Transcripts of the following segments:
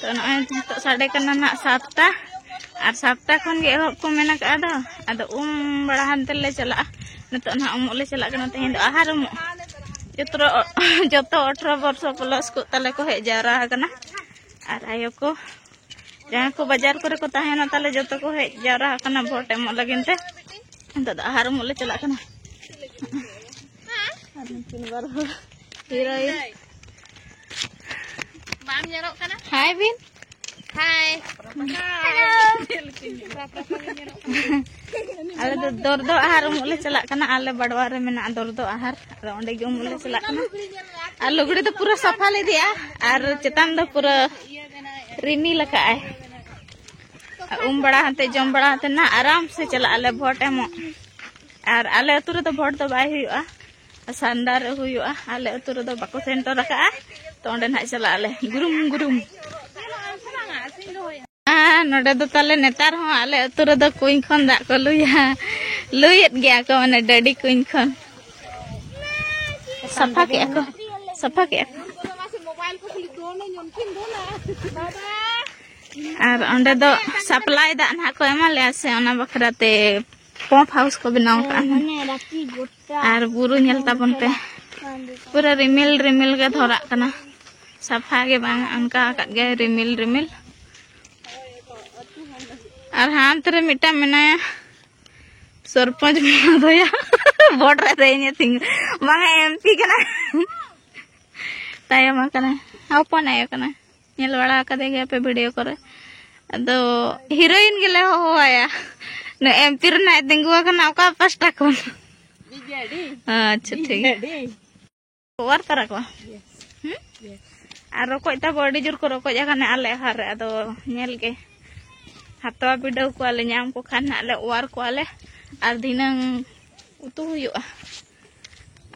ᱛᱚ ᱱᱚᱜᱼᱚᱭ ᱱᱤᱛᱚᱜ ᱥᱟᱰᱮ ᱠᱟᱱᱟ ᱱᱟᱜ ᱥᱟᱛᱴᱟ ᱟᱨ ᱥᱟᱛᱴᱟ ᱠᱷᱚᱱ ᱜᱮ ᱮᱦᱚᱵ ᱠᱚ ᱢᱮᱱ ᱟᱠᱟᱫᱼᱟ ᱫᱚ ᱟᱫᱚ ᱩᱢ ᱵᱟᱲᱟ ᱦᱟᱱᱛᱮ ᱞᱮ ᱪᱟᱞᱟᱜᱼᱟ ᱱᱤᱛᱚᱜ ᱱᱟᱜ ᱩᱢᱩᱜ ᱞᱮ ᱪᱟᱞᱟᱜ ᱠᱟᱱᱟ ᱛᱮᱦᱮᱧ ᱫᱚ ᱟᱦᱟᱨ ᱩᱢᱩᱜ ᱡᱚᱛᱚ ᱡᱚᱛᱚ ᱚᱴᱷᱨᱚ ᱵᱚᱨᱥᱚ ᱯᱞᱟᱥ ᱠᱚ ᱛᱟᱞᱮ ᱠᱚ ᱦᱮᱡ ᱡᱟᱣᱨᱟ ᱟᱠᱟᱱᱟ ᱟᱨ ᱟᱭᱳ ᱠᱚ ᱡᱟᱦᱟᱸ ᱠᱚ ᱵᱟᱡᱟᱨ ᱠᱚᱨᱮ ᱠᱚ ᱛᱟᱦᱮᱱᱟ ᱛᱟᱞᱮ ᱡᱚᱛᱚ ᱠᱚ ᱦᱮᱡ ᱡᱟᱣᱨᱟ ᱟᱠᱟᱱᱟ ᱵᱷᱳᱴ ᱮᱢᱚᱜ ᱞᱟᱹᱜᱤᱫ ᱛᱮ ᱱᱤᱛᱚᱜ ᱫᱚ ᱟᱦᱟᱨ ᱩᱢᱩᱜ ᱞᱮ ᱪᱟᱞᱟᱜ ᱠᱟᱱᱟ ᱟᱨ ᱱᱩᱠᱤᱱ ᱵᱟᱨ ᱦᱚᱲ ᱦᱤᱨᱳᱭᱤᱱ ᱵᱟᱢ ᱧᱮᱞᱚᱜ ᱠᱟᱱᱟ ᱦᱟᱭ ᱵᱤᱱ ᱦᱟᱭ ᱟᱞᱮ ᱫᱚ ᱫᱚᱨᱫᱚ ᱟᱦᱟᱨ ᱩᱢᱩᱜ ᱞᱮ ᱪᱟᱞᱟᱜ ᱠᱟᱱᱟ ᱟᱞᱮ ᱵᱟᱰᱣᱟ ᱨᱮ ᱢᱮᱱᱟᱜᱼᱟ ᱫᱚᱨᱫᱚ ᱟᱦᱟᱨ ᱟᱫᱚ ᱚᱸᱰᱮ ᱜᱮ ᱩᱢᱩᱜ ᱞᱮ ᱪᱟᱞᱟᱜ ᱠᱟᱱᱟ ᱟᱨ ᱞᱩᱜᱽᱲᱤ ᱫᱚ ᱯᱩᱨᱟᱹ ᱥᱟᱯᱷᱟ ᱞᱮ ᱤᱫᱤᱭᱟ ᱟᱨ ᱪᱮᱛᱟᱱ ᱫᱚ ᱯᱩᱨᱟᱹ ᱨᱤᱢᱤᱞ ᱟᱠᱟᱜᱼᱟᱭ ᱩᱢ ᱵᱟᱲᱟ ᱦᱟᱱᱛᱮ ᱡᱚᱢ ᱵᱟᱲᱟ ᱦᱟᱱᱛᱮ ᱱᱟ ᱟᱨᱟᱢ ᱥᱮ ᱪᱟᱞᱟᱜ ᱟᱞᱮ ᱵᱷᱚᱴ ᱮᱢᱚᱜ ᱟᱨ ᱟᱞᱮ ᱟᱹᱛᱩ ᱨᱮᱫᱚ ᱵᱷᱳᱴ ᱫᱚ ᱵᱟᱭ ᱦᱩᱭᱩᱜᱼᱟ ᱥᱟᱱᱰᱟ ᱨᱮ ᱦᱩᱭᱩᱜᱼᱟ ᱟᱞᱮ ᱟᱹᱛᱩ ᱨᱮᱫᱚ ᱵᱟᱠᱚ ᱥᱮᱱᱴᱚᱨ ᱟᱠᱟᱜᱼᱟ ᱛᱚ ᱚᱸᱰᱮ ᱱᱟᱦᱟᱜ ᱪᱟᱞᱟᱜ ᱟᱞᱮ ᱜᱩᱨᱩᱢ ᱜᱩᱨᱩᱢ ᱱᱚᱰᱮ ᱫᱚ ᱛᱟᱞᱮ ᱱᱮᱛᱟᱨ ᱦᱚᱸ ᱟᱞᱮ ᱟᱹᱛᱩ ᱨᱮᱫᱚ ᱠᱩᱧ ᱠᱷᱚᱱ ᱫᱟᱜ ᱠᱚ ᱞᱩᱭᱟ ᱞᱩᱭᱮᱫ ᱜᱮᱭᱟ ᱠᱚ ᱢᱟᱱᱮ ᱰᱟᱹᱰᱤ ᱠᱩᱧ ᱠᱷᱚᱱ ᱥᱟᱯᱷᱟ ᱠᱮᱜᱼᱟ ᱠᱚ ᱥᱟᱯᱷᱟ ᱠᱮᱜᱼᱟ ᱠᱚ ᱟᱨ ᱚᱸᱰᱮ ᱫᱚ ᱥᱟᱯᱞᱟᱭ ᱫᱟᱜ ᱱᱟᱦᱟᱜ ᱠᱚ ᱮᱢᱟ ᱞᱮᱭᱟ ᱥᱮ ᱚᱱᱟ ᱵᱟᱠᱷᱨᱟ ᱛᱮ ᱯᱚᱢᱯ ᱦᱟᱣᱩᱥ ᱠᱚ ᱵᱮᱱᱟᱣ ᱟᱠᱟᱫᱼᱟ ᱟᱨ ᱵᱩᱨᱩ ᱧᱮᱞ ᱛᱟᱵᱚᱱ ᱯᱮ ᱯᱩᱨᱟᱹ ᱨᱤᱢᱤᱞ ᱨᱤᱢᱤᱞ ᱜᱮ ᱫᱷᱚᱨᱟᱜ ᱠᱟᱱᱟ ᱥᱟᱯᱷᱟ ᱜᱮ ᱵᱟᱝ ᱚᱱᱠᱟ ᱟᱠᱟᱫ ᱜᱮ ᱨᱤᱢᱤᱞ ᱨᱤᱢᱤᱞ ᱟᱨ ᱦᱟᱱᱛᱮ ᱨᱮ ᱢᱤᱫᱴᱟᱝ ᱢᱮᱱᱟᱭᱟ ᱥᱚᱨᱯᱚᱧᱡᱽ ᱢᱚᱦᱳᱫᱚᱭᱟ ᱵᱚᱰ ᱨᱮ ᱫᱮᱧᱮ ᱛᱤᱝ ᱵᱟᱝ ᱮᱢᱯᱤ ᱠᱟᱱᱟ ᱛᱟᱭᱚᱢ ᱟᱠᱟᱱᱟ ᱦᱚᱯᱚᱱ ᱟᱭᱳ ᱠᱟᱱᱟ ᱧᱮᱞ ᱵᱟᱲᱟ ᱟᱠᱟᱫᱮ ᱜᱮᱭᱟ ᱯᱮ ᱵᱷᱤᱰᱤᱭᱳ ᱠᱚᱨᱮ ᱟᱫᱚ ᱦᱤᱨᱳᱭᱤᱱ ᱜᱮᱞᱮ ᱦᱚᱦᱚᱣᱟᱭᱟ ᱱᱚ ᱮᱢᱯᱤ ᱨᱮᱱᱟᱜ ᱛᱤᱸᱜᱩ ᱟᱠᱟᱱᱟ ᱚᱠᱟ ᱯᱟᱥᱴᱟ ᱠᱷᱚᱱ ᱟᱪᱪᱷᱟ ᱴᱷᱤᱠ ᱚᱣᱟᱨ ᱛᱟᱨᱟ ᱠᱚᱣᱟ ᱟᱨ ᱨᱚᱠᱚᱡ ᱛᱟᱵᱚ ᱟᱹᱰᱤ ᱡᱳᱨ ᱠᱚ ᱨᱚᱠᱚᱡ ᱟᱠᱟᱱᱟ ᱟᱞᱮ ᱟᱦᱟᱨ ᱨᱮ ᱟᱫᱚ ᱧᱮᱞ ᱜᱮ ᱦᱟᱛᱟᱣ ᱵᱤᱰᱟᱹᱣ ᱠᱚᱣᱟᱞᱮ ᱧᱟᱢ ᱠᱚ ᱠᱷᱟᱱ ᱦᱟᱸᱜ ᱞᱮ ᱚᱣᱟᱨ ᱠᱚᱣᱟᱞᱮ ᱟᱨ ᱫᱷᱤᱱᱟᱹᱝ ᱩᱛᱩ ᱦᱩᱭᱩᱜᱼᱟ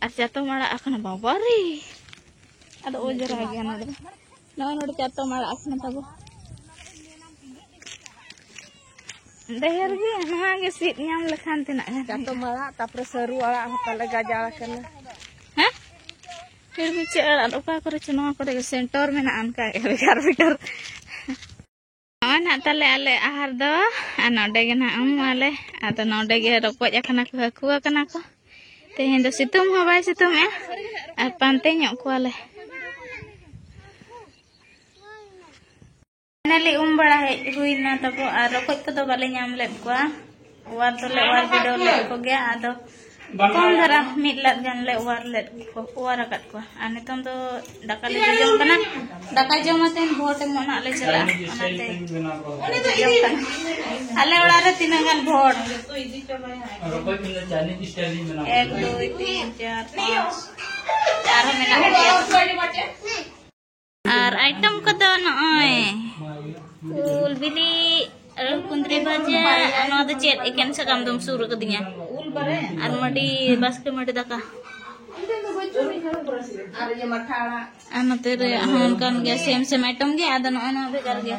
ᱟᱨ ᱪᱟᱛᱚᱢ ᱟᱲᱟᱜ ᱟᱠᱟᱱᱟ ᱵᱟᱵᱟ ᱨᱮ ᱟᱫᱚ ᱚᱡᱽᱨᱟ ᱜᱮᱭᱟ ᱱᱚᱰᱮ ᱱᱚᱜᱼᱚᱭ ᱱᱚᱰᱮ ᱪᱟᱛᱚᱢ ᱟᱲᱟᱜ ᱟᱠᱟᱱᱟ ᱛᱟᱵᱚ ᱰᱷᱮᱨ ᱜᱮ ᱱᱚᱣᱟ ᱜᱮ ᱥᱤᱫ ᱧᱟᱢ ᱞᱮᱠᱷᱟᱱ ᱛᱤᱱᱟᱹᱜ ᱜᱟᱱ ᱪᱟᱛᱚᱢ ᱟᱲᱟᱜ ᱛᱟᱯᱚᱨᱮ ᱥᱟᱹᱨᱩ ᱟᱲᱟᱜ ᱦᱚᱸ ᱛᱟᱞᱮ ᱜᱟᱡᱟᱲ ᱟᱠᱟᱱᱟ ᱦᱮᱸ ᱯᱷᱤᱨ ᱵᱤᱪᱟᱹ ᱟᱲᱟᱜ ᱚᱠᱟ ᱠᱚᱨᱮ ᱪᱚ ᱱᱚᱣᱟ ᱠᱚᱨᱮ ᱥᱮᱱᱴᱚᱨ ᱢᱮᱱᱟᱜᱼᱟ ᱚᱱᱠᱟ ᱵᱷᱮᱜᱟᱨ ᱵᱷᱮᱜᱟᱨ ᱱᱚᱜᱼᱚᱭ ᱱᱟᱜ ᱛᱟᱞᱮ ᱟᱞᱮ ᱟᱦᱟᱨ ᱫᱚ ᱟᱨ ᱱᱚᱰᱮ ᱜᱮ ᱱᱟᱜ ᱩᱢᱩᱜᱼᱟᱞᱮ ᱟᱫᱚ ᱱᱚᱰᱮ ᱜᱮ ᱨᱚᱠᱚᱡ ᱟᱠᱟᱱᱟ ᱠᱚ ᱦᱟᱹᱠᱩ ᱟᱠᱟᱱᱟ ᱠᱚ ᱛᱮᱦᱮᱧ ᱫᱚ ᱥᱤᱛᱩᱝ ᱦᱚᱸ ᱵᱟᱭ ᱥᱤᱛᱩᱝᱮᱜᱼᱟ ᱟᱨ ᱯᱟᱱᱛᱮ ᱧᱚᱜ ᱠᱚᱣᱟᱞᱮ ᱯᱷᱟᱭᱱᱟᱞᱤ ᱩᱢ ᱵᱟᱲᱟ ᱦᱮᱡ ᱦᱩᱭᱱᱟ ᱛᱟᱵᱚ ᱟᱨ ᱨᱚᱠᱚᱡ ᱠᱚᱫᱚ ᱵᱟᱞᱮ ᱧᱟᱢ ᱞᱮᱫ ᱠᱚᱣᱟ ᱚᱣᱟᱨ ᱫᱚᱞᱮ ᱚᱣᱟᱨ ᱵᱤᱰᱟᱹᱣ ᱞᱮᱫ ᱠᱚᱜᱮᱭᱟ ᱟᱫᱚ ᱠᱚᱢ ᱫᱷᱟᱨᱟ ᱢᱤᱫ ᱞᱟᱫ ᱜᱟᱱ ᱞᱮ ᱚᱣᱟᱨ ᱞᱮᱫ ᱠᱚ ᱚᱣᱟᱨ ᱟᱠᱟᱫ ᱠᱚᱣᱟ ᱟᱨ ᱱᱤᱛᱚᱝ ᱫᱚ ᱫᱟᱠᱟ ᱞᱮ ᱡᱚᱡᱚᱢ ᱠᱟᱱᱟ ᱫᱟᱠᱟ ᱡᱚᱢ ᱟᱛᱮᱱ ᱵᱷᱳᱴ ᱮᱢᱚᱜ ᱱᱟᱜ ᱞᱮ ᱪᱟᱞᱟᱜᱼᱟ ᱚᱱᱟᱛᱮ ᱡᱚᱡᱚᱢ ᱠᱟᱱᱟ ᱟᱞᱮ ᱚᱲᱟᱜ ᱨᱮ ᱛᱤᱱᱟᱹᱜ ᱜᱟᱱ ᱵᱷᱳᱴ ᱮᱠ ᱫᱩᱭ ᱛᱤᱱ ᱪᱟᱨ ᱯᱟᱸᱪ ᱟᱨᱦᱚᱸ ᱢᱮᱱᱟᱜ ᱜᱮᱭᱟ ᱟᱨ ᱟᱭᱴᱮᱢ ᱠᱚᱫᱚ ᱱᱚᱜᱼᱚᱭ ᱩᱞ ᱵᱤᱞᱤ ᱟᱨ ᱠᱩᱸᱫᱽᱨᱤ ᱵᱷᱟᱡᱟ ᱟᱨ ᱱᱚᱣᱟ ᱫᱚ ᱪᱮᱫ ᱮᱠᱮᱱ ᱥᱟᱠᱟᱢ ᱫᱚᱢ ᱥᱩᱨ ᱟᱠᱟᱫᱤᱧᱟ ᱟᱨ ᱢᱟᱹᱰᱤ ᱵᱟᱥᱠᱮ ᱢᱟᱹᱰᱤ ᱫᱟᱠᱟ ᱟᱨ ᱱᱚᱛᱮ ᱨᱮ ᱦᱚᱸ ᱚᱱᱠᱟᱱ ᱜᱮᱭᱟ ᱥᱮᱢ ᱥᱮᱢ ᱟᱭᱴᱮᱢ ᱜᱮ ᱟᱫᱚ ᱱᱚᱜᱼᱚᱭ ᱱᱚᱣᱟ ᱵᱷᱮᱜᱟᱨ ᱜᱮᱭᱟ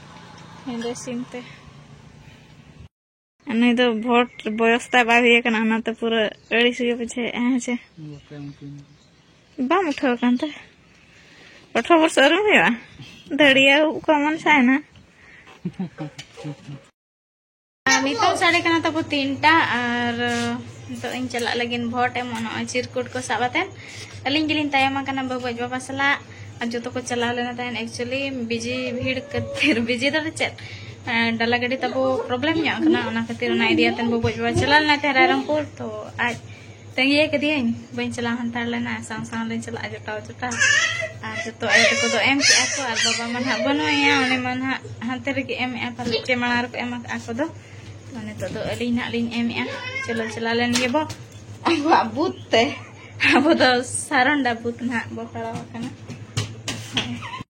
ᱦᱮᱸᱫᱮ ᱥᱤᱢ ᱛᱮ ᱱᱩᱭ ᱫᱚ ᱵᱷᱳᱴ ᱵᱚᱭᱚᱥ ᱛᱟᱭ ᱵᱟᱭ ᱦᱩᱭ ᱟᱠᱟᱱᱟ ᱚᱱᱟᱛᱮ ᱯᱩᱨᱟᱹ ᱟᱹᱲᱤᱥ ᱜᱮ ᱵᱩᱡᱷᱟᱹᱣᱮᱫᱼᱟ ᱦᱮᱸ ᱪᱮ ᱵᱟᱢ ᱩᱴᱷᱟᱹᱣ ᱟᱠᱟᱱ ᱛᱮ ᱟᱴᱷᱨᱚ ᱵᱚᱨᱥ ᱟᱹᱣᱨᱤᱢ ᱦᱩᱭᱩᱜᱼᱟ ᱫᱟᱹᱲᱤᱭᱟᱹ ᱠᱚ ᱢᱚᱱ ᱥᱟᱭᱱᱟ ᱱᱤᱛᱚᱝ ᱥᱟᱲᱮ ᱠᱟᱱᱟ ᱛᱟᱵᱚ ᱛᱤᱱᱴᱟ ᱟᱨ ᱱᱤᱛᱚᱜ ᱤᱧ ᱪᱟᱞᱟᱜ ᱞᱟᱹᱜᱤᱫ ᱵᱷᱳᱴ ᱮᱢᱚᱜ ᱱᱚᱜᱼᱚᱭ ᱪᱤᱨᱠᱩᱴ ᱠᱚ ᱥᱟᱵ ᱟᱛᱮᱱ ᱟᱹᱞᱤᱧ ᱜᱮᱞᱤᱧ ᱛᱟᱭᱚᱢ ᱟᱠᱟᱱᱟ ᱵᱟᱹᱵᱩ ᱟᱡ ᱵᱟᱵᱟ ᱥᱟᱞᱟᱜ ᱟᱨ ᱡᱚᱛᱚ ᱠᱚ ᱪᱟᱞᱟᱣ ᱞᱮᱱᱟ ᱛᱟᱦᱮᱱ ᱮᱠᱪᱩᱭᱮᱞᱤ ᱵᱤᱡᱤ ᱵᱷᱤᱲ ᱠᱷᱟᱹᱛᱤᱨ ᱵᱤᱡᱤ ᱫᱚ ᱪᱮᱫ ᱰᱟᱞᱟ ᱜᱟᱹᱰᱤ ᱛᱟᱵᱚ ᱯᱨᱚᱵᱞᱮᱢ ᱧᱚᱜ ᱟᱠᱟᱱᱟ ᱚᱱᱟ ᱠᱷᱟᱹᱛᱤᱨ ᱚᱱᱟ ᱤᱫᱤᱭᱟᱛᱮᱱ ᱵᱟᱹᱵᱩ ᱟᱡ ᱵᱟᱵᱟ ᱪᱟᱞᱟᱣ ᱞᱮᱱᱟ ᱛᱟᱦᱮᱸ ᱨᱟᱭᱨᱚᱝᱯᱩᱨ ᱛᱚ ᱟᱡ ᱛᱟᱺᱜᱤᱭᱮ ᱠᱟᱹᱫᱤᱭᱟᱹᱧ ᱵᱟᱹᱧ ᱪᱟᱞᱟᱣ ᱦᱟᱱᱛᱟᱲ ᱞᱮᱱᱟ ᱥᱟᱶ ᱥᱟᱶ ᱞᱮ ᱪᱟᱞᱟᱜᱼᱟ ᱡᱚᱴᱟᱣ ᱡᱚᱴᱟᱣ ᱟᱨ ᱡᱚᱛᱚ ᱟᱭᱳ ᱛᱟᱠᱚ ᱫᱚ ᱮᱢ ᱠᱮᱜᱼᱟ ᱠᱚ ᱟᱨ ᱵᱟᱵᱟ ᱢᱟ ᱱᱟᱦᱟᱜ ᱵᱟᱹᱱᱩᱭᱟ ᱩᱱᱤ ᱢᱟ ᱱᱟᱦᱟᱜ ᱦᱟᱱᱛᱮ ᱨᱮᱜᱮ ᱮᱢᱮᱜᱼᱟ ᱯᱟᱞᱮ ᱪᱮ ᱢᱟᱲᱟᱝ ᱨᱮᱠᱚ ᱮᱢ ᱟᱠᱟᱜᱼᱟ ᱠᱚ ᱫᱚ ᱱᱤᱛᱚᱜ ᱫᱚ ᱟᱹᱞᱤᱧ ᱱᱟᱦᱟᱜ ᱞᱤᱧ ᱮᱢᱮᱜᱼᱟ ᱪᱚᱞᱚ ᱪᱟᱞᱟᱣ ᱞᱮᱱ ᱜᱮᱵᱚ ᱟᱵᱚᱣᱟᱜ ᱵᱩᱛ ᱛᱮ ᱟᱵᱚ ᱫᱚ ᱥᱟᱨᱚᱱᱰᱟ ᱵᱩᱛ ᱱᱟᱦᱟᱜ ᱵᱚ ᱯᱟᱲᱟᱣ ᱟᱠᱟᱱᱟ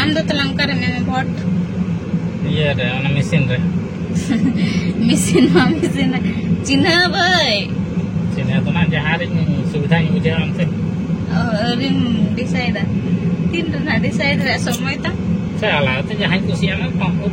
ᱟᱢ ᱫᱚ ᱛᱟᱞᱟᱝ ᱚᱠᱟᱨᱮ ᱢᱮᱱᱟ ᱵᱷᱳᱴ ᱤᱭᱟᱹ ᱨᱮ ᱚᱱᱟ ᱢᱮᱥᱤᱱ ᱨᱮ ᱢᱮᱥᱤᱱ ᱢᱟ ᱢᱮᱥᱤᱱ ᱨᱮ ᱪᱤᱱᱦᱟᱹ ᱵᱟᱹᱭ ᱪᱤᱱᱦᱟᱹ ᱫᱚ ᱱᱟ ᱡᱟᱦᱟᱸ ᱨᱮ ᱥᱩᱵᱤᱫᱷᱟᱧ ᱵᱩᱡᱷᱟᱹᱣᱟ ᱚᱱᱛᱮ ᱟᱹᱣᱨᱤᱢ ᱰᱤᱥᱟᱭᱤᱰᱟ ᱛᱤᱱ ᱨᱮᱱᱟᱜ ᱰᱤᱥᱟᱭᱤᱰ ᱨᱮᱭᱟᱜ ᱥᱚᱢᱚᱭ ᱛᱟᱢ ᱥᱮ ᱟᱞᱟᱫᱟ ᱛᱮ ᱡᱟᱦᱟᱸᱧ ᱠᱩᱥᱤᱭᱟᱜᱼᱟ ᱚᱱᱟ ᱯᱟᱢᱯᱩᱨ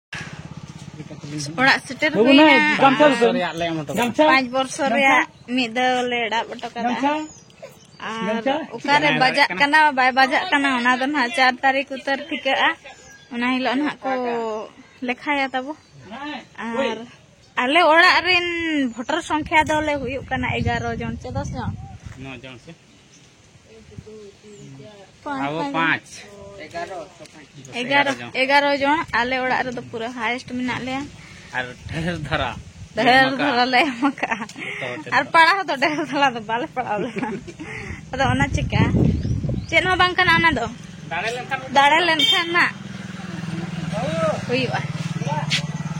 ᱚᱲᱟᱜ ᱥᱮᱴᱮᱨ ᱦᱩᱭᱱᱟ ᱯᱟᱸᱪ ᱵᱚᱨᱥᱚ ᱨᱮᱭᱟᱜ ᱢᱤᱫ ᱫᱷᱟᱣ ᱞᱮ ᱮᱲᱟᱵ ᱦᱚᱴᱚ ᱠᱟᱫᱟ ᱟᱨ ᱚᱠᱟᱨᱮ ᱵᱟᱡᱟᱜ ᱠᱟᱱᱟ ᱵᱟᱭ ᱵᱟᱡᱟᱜ ᱠᱟᱱᱟ ᱚᱱᱟ ᱫᱚ ᱱᱟᱦᱟᱜ ᱪᱟᱨ ᱛᱟᱹᱨᱤᱠᱷ ᱩᱛᱟᱹᱨ ᱴᱷᱤᱠᱟᱹᱜᱼᱟ ᱚᱱᱟ ᱦᱤᱞᱳᱜ ᱱᱟᱦᱟᱜ ᱠᱚ ᱞᱮᱠᱷᱟᱭᱟ ᱛᱟᱵᱚ ᱟᱨ ᱟᱞᱮ ᱚᱲᱟᱜ ᱨᱮᱱ ᱵᱷᱳᱴᱟᱨ ᱥᱚᱝᱠᱷᱟ ᱫᱚᱞᱮ ᱦᱩᱭᱩᱜ ᱠᱟᱱᱟ ᱮᱜᱟᱨᱚ ᱡᱚᱱ ᱪᱮ ᱫᱚᱥ ᱡᱚᱱ ᱟᱵᱚ ᱯᱟᱸᱪ ᱮᱜᱟᱨᱚ ᱮᱜᱟᱨᱚ ᱡᱚᱱ ᱟᱞᱮ ᱚᱲᱟᱜ ᱨᱮᱫᱚ ᱯᱩᱨᱟᱹ ᱦᱟᱭᱮᱥᱴ ᱢᱮᱱᱟᱜ ᱞᱮᱭᱟ ᱟᱨ ᱰᱷᱮᱨ ᱫᱷᱟᱨᱟ ᱰᱷᱮᱨ ᱫᱷᱟᱨᱟ ᱞᱮ ᱮᱢ ᱟᱠᱟᱜᱼᱟ ᱟᱨ ᱯᱟᱲᱟᱣ ᱫᱚ ᱰᱷᱮᱨ ᱫᱷᱟᱨᱟ ᱫᱚ ᱵᱟᱞᱮ ᱯᱟᱲᱟᱣ ᱞᱮᱱᱟ ᱟᱫᱚ ᱚᱱᱟ ᱪᱤᱠᱟ ᱪᱮᱫ ᱦᱚᱸ ᱵᱟᱝ ᱠᱟᱱᱟ ᱚᱱᱟ ᱫᱚ ᱫᱟᱲᱮ ᱞᱮᱱᱠᱷᱟᱱ ᱱᱟᱜ ᱦᱩᱭᱩᱜᱼᱟ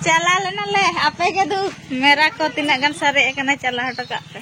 ᱪᱟᱞᱟ ᱞᱮᱱᱟ ᱞᱮ ᱟᱯᱮ ᱜᱮ ᱫᱩ ᱢᱮᱨᱟ ᱠᱚ ᱛᱤᱱᱟᱹᱜ ᱜᱟᱱ ᱥᱟᱨᱮᱡ ᱟᱠᱟᱱᱟ ᱪᱟᱞᱟ ᱦᱚᱴᱚ ᱠᱟᱜ ᱯᱮ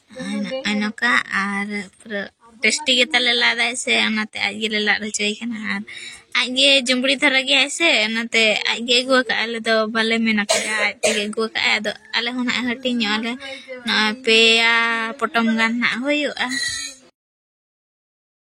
ᱚᱱᱠᱟ ᱟᱨ ᱯᱩᱨᱟᱹ ᱴᱮᱥᱴᱤ ᱜᱮ ᱛᱟᱞᱮ ᱞᱟᱫᱟᱭ ᱥᱮ ᱚᱱᱟᱛᱮ ᱟᱡ ᱜᱮᱞᱮ ᱞᱟᱫ ᱦᱚᱪᱚᱭ ᱠᱟᱱᱟ ᱟᱨ ᱟᱡ ᱜᱮ ᱡᱩᱢᱵᱽᱲᱤ ᱫᱷᱟᱨᱟ ᱜᱮᱭᱟᱭ ᱥᱮ ᱚᱱᱟᱛᱮ ᱟᱡ ᱜᱮ ᱟᱹᱜᱩ ᱟᱠᱟᱫ ᱟᱞᱮ ᱫᱚ ᱵᱟᱞᱮ ᱢᱮᱱ ᱟᱠᱟᱫᱟ ᱟᱡ ᱛᱮᱜᱮ ᱟᱹᱜᱩ ᱟᱠᱟᱫ ᱟᱭ ᱟᱫᱚ ᱟᱞᱮ ᱦᱚᱸ ᱱᱟᱦᱟᱜ ᱦᱟᱹᱴᱤᱧ ᱧᱚᱜ ᱟᱞᱮ ᱱᱚᱜᱼᱚᱭ ᱯᱮᱭᱟ ᱯᱚᱴᱚᱢ ᱜᱟᱱ ᱱᱟᱦᱟᱜ ᱦᱩᱭᱩᱜᱼᱟ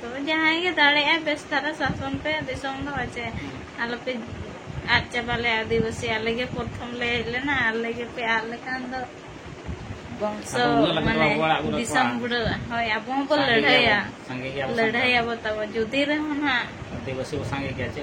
ᱛᱚ ᱡᱟᱦᱟᱸᱭ ᱜᱮ ᱫᱟᱲᱮᱭᱟᱜᱼᱟᱭ ᱵᱮᱥ ᱫᱷᱟᱨᱟ ᱥᱟᱥᱚᱱ ᱯᱮ ᱫᱤᱥᱚᱢ ᱫᱚ ᱪᱮ ᱟᱞᱚᱯᱮ ᱟᱫ ᱪᱟᱵᱟ ᱞᱮ ᱟᱹᱫᱤᱵᱟᱹᱥᱤ ᱟᱞᱮ ᱜᱮ ᱯᱨᱚᱛᱷᱚᱢ ᱞᱮ ᱦᱮᱡ ᱞᱮᱱᱟ ᱟᱞᱮ ᱜᱮᱯᱮ ᱟᱫ ᱞᱮᱠᱷᱟᱱ ᱫᱚ ᱵᱚᱝᱥᱚ ᱢᱟᱱᱮ ᱫᱤᱥᱚᱢ ᱵᱩᱲᱟᱹᱜᱼᱟ ᱦᱳᱭ ᱟᱵᱚ ᱦᱚᱸᱵᱚ ᱞᱟᱹᱲᱦᱟᱹᱭᱟ ᱞᱟᱹᱲᱦᱟᱹᱭᱟᱵᱚ ᱛᱟᱵᱚ ᱡᱩᱫᱤ ᱨᱮᱦᱚᱸ ᱱᱟᱦᱟᱜ ᱟᱹᱫᱤᱵᱟᱹᱥᱤ ᱵᱚ ᱥᱟᱸᱜᱮ ᱜᱮᱭᱟ ᱪᱮ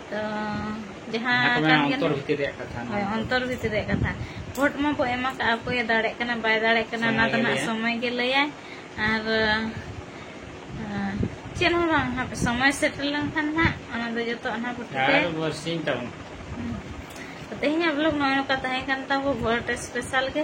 ᱚᱱᱛᱚᱨ ᱵᱷᱤᱛᱤᱨ ᱨᱮᱭᱟᱜ ᱠᱟᱛᱷᱟ ᱵᱷᱳᱴ ᱢᱟ ᱵᱚ ᱮᱢᱟ ᱠᱟᱜᱼᱟ ᱚᱠᱚᱭᱮ ᱫᱟᱲᱮᱜ ᱠᱟᱱᱟ ᱵᱟᱭ ᱫᱟᱲᱮᱜ ᱠᱟᱱᱟ ᱚᱱᱟ ᱫᱚ ᱱᱟᱜ ᱥᱚᱢᱚᱭ ᱜᱮ ᱞᱟᱹᱭᱟᱭ ᱟᱨ ᱪᱮᱫ ᱦᱚᱸ ᱵᱟᱝ ᱦᱟᱯᱮ ᱥᱚᱢᱚᱭ ᱥᱮᱴᱮᱨ ᱞᱮᱱᱠᱷᱟᱱ ᱱᱟᱜ ᱚᱱᱟ ᱫᱚ ᱡᱚᱛᱚ ᱚᱱᱟ ᱵᱷᱳᱴ ᱛᱮ ᱛᱮᱦᱮᱧᱟᱜ ᱵᱞᱚᱜ ᱱᱚᱜᱼᱚᱭ ᱱᱚᱝᱠᱟ ᱛᱟᱦᱮᱸ ᱠᱟᱱ ᱛᱟᱵᱚ ᱵᱷᱳᱴ ᱥᱯᱮᱥᱟᱞ ᱜᱮ